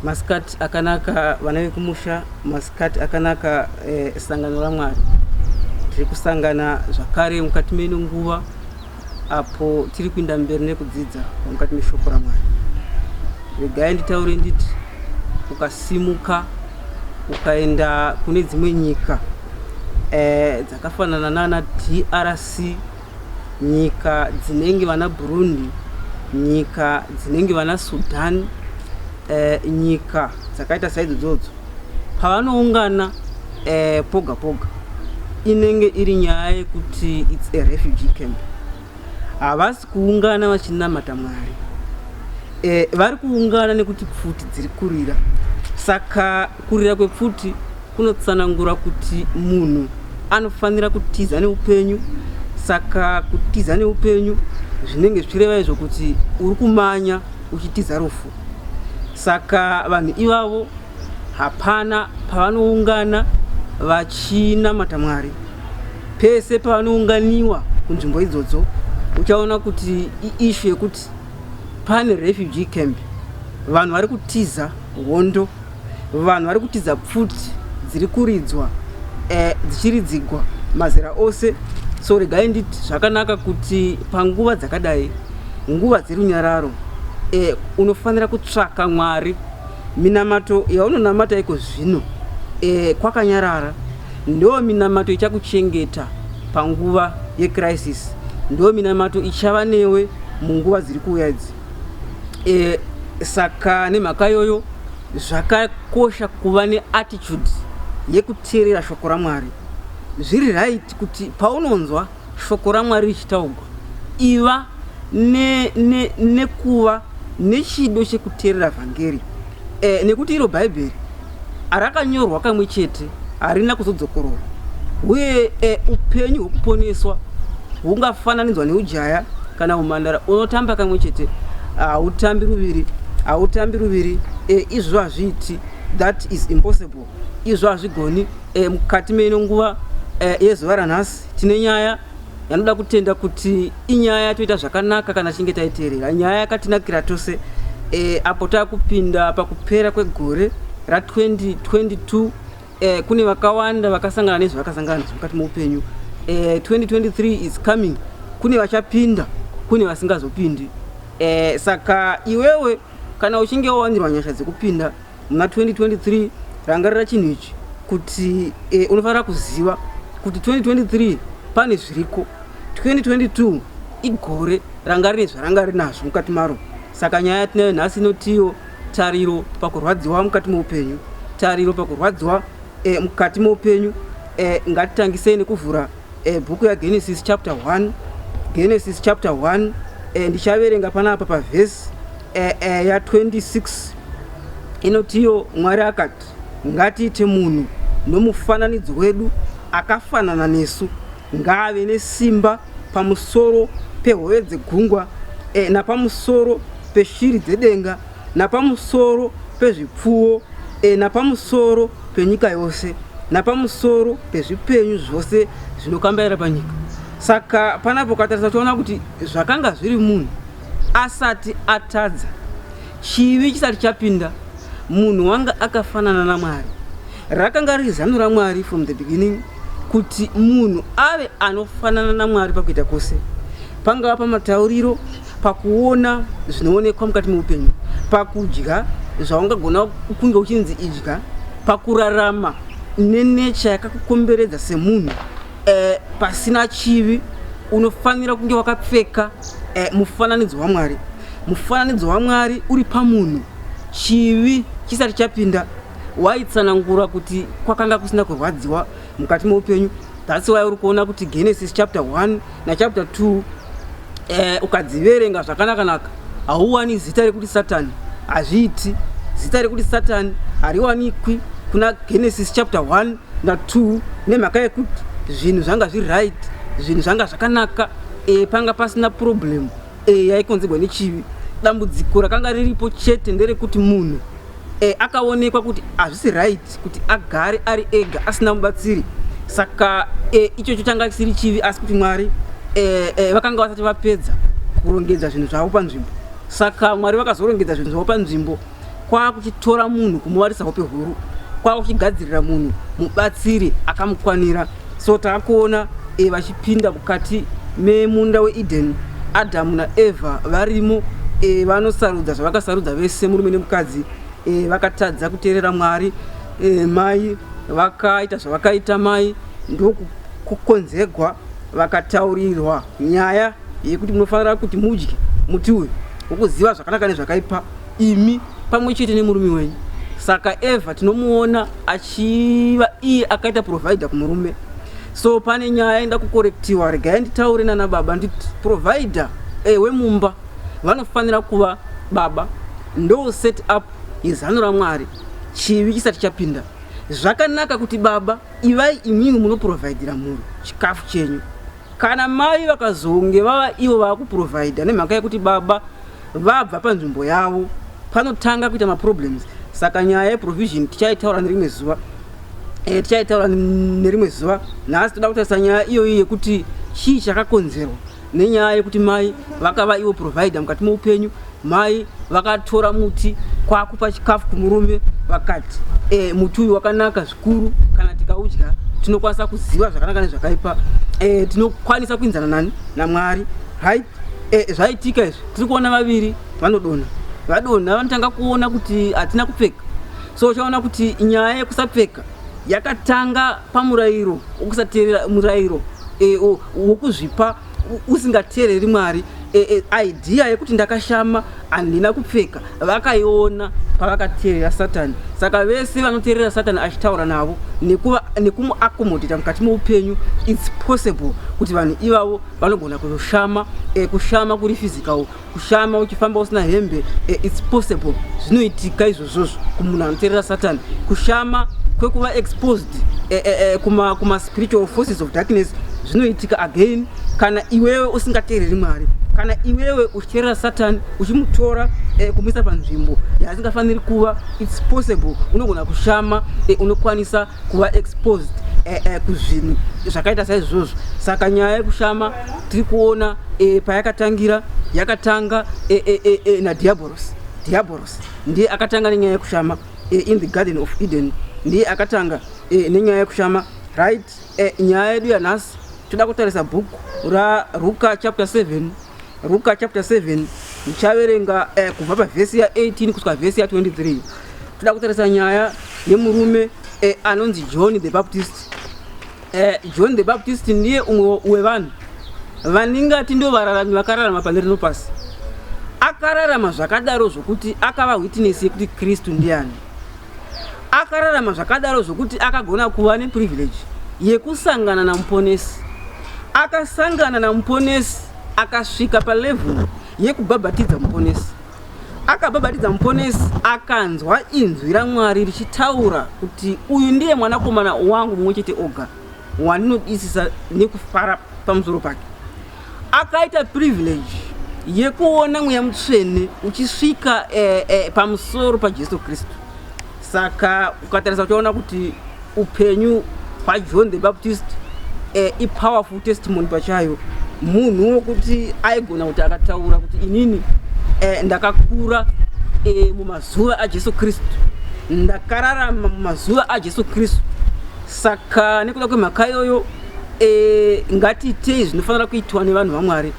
masikati akanaka vana vekumusha masikati akanaka eh, sangano ramwari tiri kusangana zvakare mukati meino nguva apo tiri kuinda mberi nekudzidza mukati meshoko ramwari regai nditaure nditi ukasimuka ukaenda kune dzimwe nyika eh, dzakafanana nana drc nyika dzinenge vana Burundi, nyika dzinenge vana Sudan, eh, nyika dzakaita saidzo dzodzo pavanoungana eh, poga poga inenge iri nyaya yekuti its a refugee camp havasi kuungana vachinamata mwari eh, vari kuungana nekuti pfuti dziri kurira saka Kurira kwepfuti kunotsanangura kuti munhu anofanira kutiza neupenyu saka kutiza neupenyu zvinenge zvichireva izvo kuti uri kumanya uchitiza rufu saka vanhu ivavo hapana pavanoungana vachinamata mwari pese pavanounganiwa kunzvimbo idzodzo uchaona kuti iishu yekuti pane refugee camp vanhu vari kutiza hondo vanhu vari kutiza pfuti dziri kuridzwa eh, dzichiridzigwa mazera ose so regai nditi zvakanaka kuti panguva dzakadai nguva dzerunyararo eh, unofanira kutsvaka mwari minamato yaunonamata iko zvino eh, kwakanyarara ndo minamato ichakuchengeta panguva yecrisis ndo minamato ichava newe munguva dziri kuuya idzi e, saka nemhaka yoyo zvakakosha kuva neattitude yekuteerera shoko ramwari zviri right kuti paunonzwa shoko ramwari richitaugwa iva nekuva ne, ne nechido chekuteerera vhangeri e, nekuti iro bhaibheri Rakanyorwa kamwe chete, harina kuzodzokororwa, uye e, upenyu hwokuponeswa hungafananidzwa neujaya kana umhandara. Unotamba kamwe chete, hautambi ruviri, hautambi ruviri. E, izvo hazviiti, that is impossible. Izvo hazvigoni. E, mukati meino nguva e, yezuva ranhasi tine nyaya yanoda kutenda kuti inyaya yatoita zvakanaka kana tichinge taiteerera nyaya yakatinakira tose e, apo takupinda pakupera kwegore ra2022 e, eh, kune vakawanda vakasangana nezvavakasangana nazvo mukati meupenyu e, eh, 2023 is coming kune vachapinda kune vasingazopindi e, saka iwewe kana uchinge wawanirwa nyasha dzekupinda muna 2023 rangarira chinhu ichi kuti eh, unofanira kuziva kuti 2023 pane zviriko 2022 igore ranga rine zvaranga rinazvo mukati maro saka nyaya yatinayo nhasi inotiyo tariro pakurwadziwa mukati meupenyu tariro pakurwadziwa eh, mukati meupenyu eh, ngatitangisei nekuvhura E, bhuku yaGenesis chapter 1 Genesis chapter 1 e, ndichaverenga panapa pavhesi e, e, ya 26 inotiyo Mwari akati ngatiite munhu nomufananidzo wedu akafanana nesu ngaave nesimba pamusoro pehove dzegungwa e, napamusoro peshiri dzedenga napamusoro pezvipfuwo, e, napamusoro penyika yose, napamusoro pezvipenyu zvose zvinokambaira panyika. Saka panapo ukatarisa uchaona kuti zvakanga zviri munhu asati atadza, chivi chisati chapinda, munhu wanga akafanana naMwari. Rakanga riri zano raMwari from the beginning kuti munhu ave anofanana naMwari pakuita kwose, pangava pamatauriro, pakuona zvinoonekwa mukati meupenyu pakudya zvaungagona kunge uchinzi idya pakurarama nenecha yakakukomberedza semunhu eh, pasina chivi unofanira kunge wakapfeka eh, mufananidzo wamwari mufananidzo wamwari uri pamunhu chivi chisati chapinda waitsanangura kuti kwakanga kusina kurwadziwa mukati meupenyu that's why uri kuona kuti genesis chapter 1 nachapter 2 eh, ukadziverenga zvakanakanaka hauwani zita rekuti satani hazviiti zita rekuti satani hariwanikwi kuna genesis chapter 1 na2 nemhaka yekuti zvinhu zvanga zviri right zvinhu zvanga zvakanaka e, panga pasina problem e, yaikonzerwa nechivi dambudziko rakanga riripo chete nderekuti munhu e, akaonekwa kuti hazvisi right kuti agare ari ega asina mubatsiri saka e, ichocho changa chisiri chivi asi kuti mwari e, e, vakanga vasati vapedza kurongedza zvinhu zvavo panzvimbo saka mwari vakazorongedza zvinhu zvavo panzvimbo kwakuchitora munhu kumuvarisa hope huru kwakuchigadzirira munhu mubatsiri akamukwanira so takuona e, vachipinda mukati memunda weeden adamu naevha varimo e, vanosarudza zvavakasarudza vese murume nemukadzi e, vakatadza kuteerera mwari e, mai vakaita zvavakaita mai ndokukonzegwa vakataurirwa Nyaya yekuti munofanira kuti mudye muti uyu wokuziva zvakanaka nezvakaipa imi pamwe chete nemurume wenyu. Saka Eva tinomuona achiva iye akaita provider kumurume. So pane nyaya inoda kukorektiwa, regai nditaure nana baba nditi provider ewe eh, mumba vanofanira kuva baba ndo set up yezano raMwari chivi chisati chapinda. Zvakanaka kuti baba ivai imimi munoprovidira mhuri chikafu chenyu. Kana mai vakazonge vava ivo vakuprovider nemhaka yekuti baba vabva panzvimbo yavo panotanga kuita maproblems saka nyaya yeprovision tichaitaura nerimwe zuva e, tichaitaura nerimwe zuva nhasi toda kutarisa nyaya iyoyi yekuti chii chakakonzerwa nenyaya yekuti mai vakava ivo provider mukati meupenyu Mai vakatora muti kwakupa chikafu kumurume vakati e, muti uyu wakanaka zvikuru kana tikaudya tinokwanisa kuziva zvakanaka nezvakaipa e, tinokwanisa kuinzana nani namwari right e, zvaitika izvi tiri kuona vaviri vanodonha vadonha vanotanga kuona kuti hatina kupfeka so uchaona kuti nyaya yekusapfeka yakatanga pamurayiro wokusateerera murayiro e, wokuzvipa usingateereri mwari e, e, idea yekuti ndakashama handina kupfeka vakaiona pavakateerera satani saka vese vanoteerera satani achitaura navo nekumuakomodhita mukati meupenyu its possible kuti vanhu ivavo vanogona kushama e, kushama kuri physical kushama uchifamba usina hembe eh, its possible zvinoitika izvozvozvo kumunhu anoterera satani kushama kwekuva exposed eh, eh, eh, kuma, kuma spiritual forces of darkness zvinoitika again kana iwewe usingateereri mwari kana iwewe uchiterera satani uchimutora eh, kumuisa panzvimbo yaasingafaniri kuva its possible unogona kushama eh, unokwanisa kuva exposed eh, eh, kuzvinhu zvakaita saizvozvo saka nyaya yekushama tiri kuona e, payakatangira yakatanga e, e, e, e, nadiaboros diaboros ndiye akatanga nenyaya yekushama e, in the garden of eden ndiye akatanga e, nenyaya yekushama right e, nyaya yedu yanhasi toda kutarisa bhuku raruka chapter 7 ruka chapter 7 ndichaverenga e, kubva pavhesi ya18 kusvika vhesi ya23 toda kutarisa nyaya yemurume e, anonzi john the baptist Eh, John the Baptist ndiye umwe wevanhu vaningati ndo vararami vakararama pane rino pasi. Akararama zvakadaro zvokuti akava witness yekuti Kristu ndiani. Akararama zvakadaro zvokuti akagona kuva ne privilege yekusangana na muponesi. Akasangana na muponesi akasvika pa level yekubhabhatidza muponesi. Akababatidza Muponesi akanzwa inzwi raMwari richitaura kuti uyu ndiye mwanakomana wangu mumwe chete oga wandinodisisa nekufara pamusoro pake. Akaita privilege yekuona mweya mutsvene uchisvika eh, eh, pamusoro paJesu Kristu. Saka ukatarisa uchaona kuti upenyu hwaJohn the Baptist eh, ipowerful testimony pachayo munhu wokuti aigona kuti akataura kuti inini eh, ndakakura eh, mumazuva ajesu kristu ndakararama mumazuva ajesu kristu saka nekuda kwemhaka iyoyo eh, ngatiitei zvinofanira kuitwa nevanhu vamwari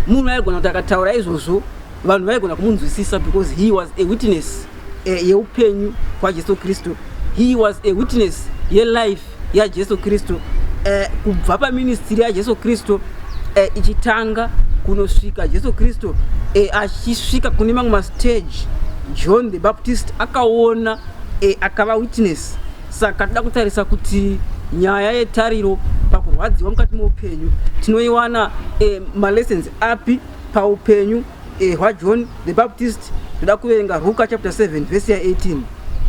munhu aigona kuti akataura izvozvo vanhu vaigona kumunzwisisa because he was a witness eh, yeupenyu kwajesu kristu he was a witness yelife yajesu kristu eh, kubva paministiri yajesu kristu eh, ichitanga kunosvika jesu kristu eh, achisvika kune mamwe mastage john the baptist akaona eh, akava witness saka toda kutarisa kuti nyaya yetariro pakurwadziwa mukati meupenyu tinoiwana eh, malessons api Paupenyu eh, hwaJohn the Baptist ndoda kuverenga Ruka chapter 7 vhesi ya 18.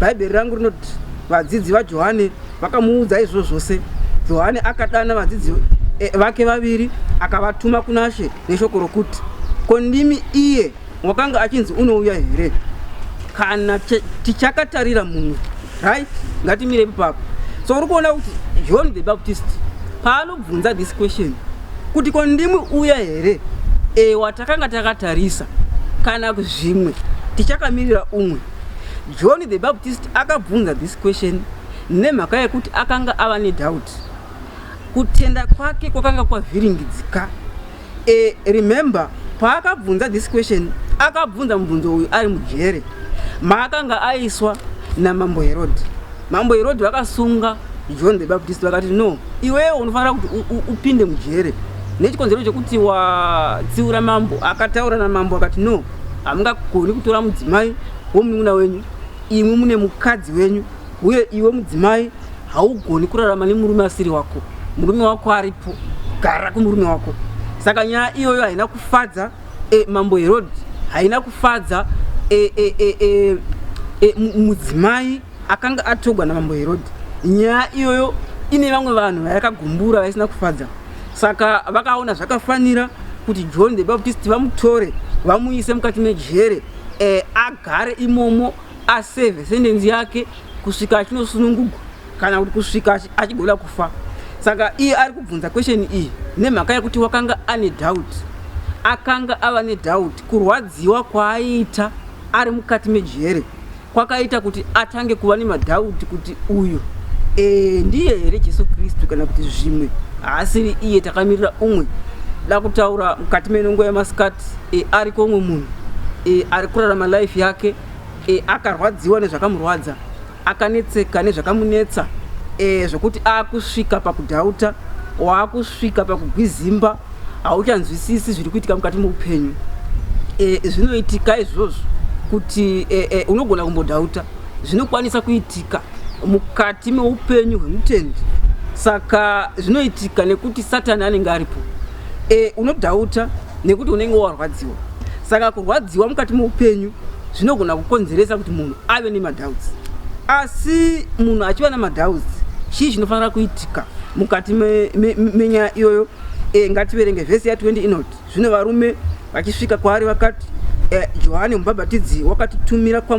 Bhaibheri rangu rinoti vadzidzi vaJohane vakamuudza izvo zvose. Johane akadana vadzidzi eh, vake vaviri akavatuma kuna She neshoko rokuti ko ndimi iye wakanga achinzi unouya here? Kana tichakatarira munhu right, ngatimire ipapo. So uri kuona kuti John the Baptist paanobvunza this question kuti ko ndimwi uya here ewa takanga takatarisa kana zvimwe tichakamirira umwe john the baptist akabvunza this question nemhaka yekuti akanga ava nedoubt kutenda kwake kwakanga kwavhiringidzika e, remember paakabvunza this question akabvunza mubvunzo uyu ari mujere maakanga aiswa namambo herodi Mambo Herodhi vakasunga John the Baptist vakati no, iwewe unofanira kuti upinde mujere nechikonzero chekuti watsiura mambo. Akataura namambo akati no, hamungagoni kutora mudzimai womunun'una wenyu, imwi mune mukadzi wenyu, uye iwe mudzimai haugoni kurarama nemurume asiri wako, murume wako aripo, gara kumurume wako. Saka nyaya iyoyo haina kufadza e, mambo Herodhi, haina kufadza e, e, e, e, e, mudzimai akanga atogwa namambo herodhi nyaya iyoyo ine vamwe vanhu vayakagumbura vaisina kufadza saka vakaona zvakafanira kuti john the baptist vamutore vamuise mukati mejere e, agare imomo aseve sendenzi yake kusvika achinosunungugwa kana kuti kusvika achigona kufa saka iye ari kubvunza kwesheni iyi nemhaka yekuti wakanga ane dhauti akanga ava nedhauti kurwadziwa kwaaiita ari mukati mejere kwakaita kuti atange kuva nemadhauti kuti uyu e, ndiye here jesu kristu kana kuti zvimwe haasiri iye takamirira umwe da kutaura mukati menongo yamasikati e, eh, ariko umwe munhu e, ari kurarama life yake e, akarwadziwa nezvakamurwadza akanetseka nezvakamunetsa e, zvokuti aakusvika pakudhauta waakusvika pakugwizimba hauchanzwisisi zviri kuitika mukati meupenyu e, zvinoitika izvozvo kuti e, e, unogona kumbodhauta zvinokwanisa kuitika mukati meupenyu hwemutendi saka zvinoitika nekuti satani anenge aripo e, unodhauta nekuti unenge warwadziwa saka kurwadziwa mukati meupenyu zvinogona kukonzeresa kuti munhu ave nemadhauts asi munhu achiva nemadhauts chii chinofanira kuitika mukati menyaya me, me, iyoyo E, ngativerenge vhesi ya 20 inoti zvino varume vachisvika kwaari vakati, e, Johani mubhabhatidzi wakatitumira kwa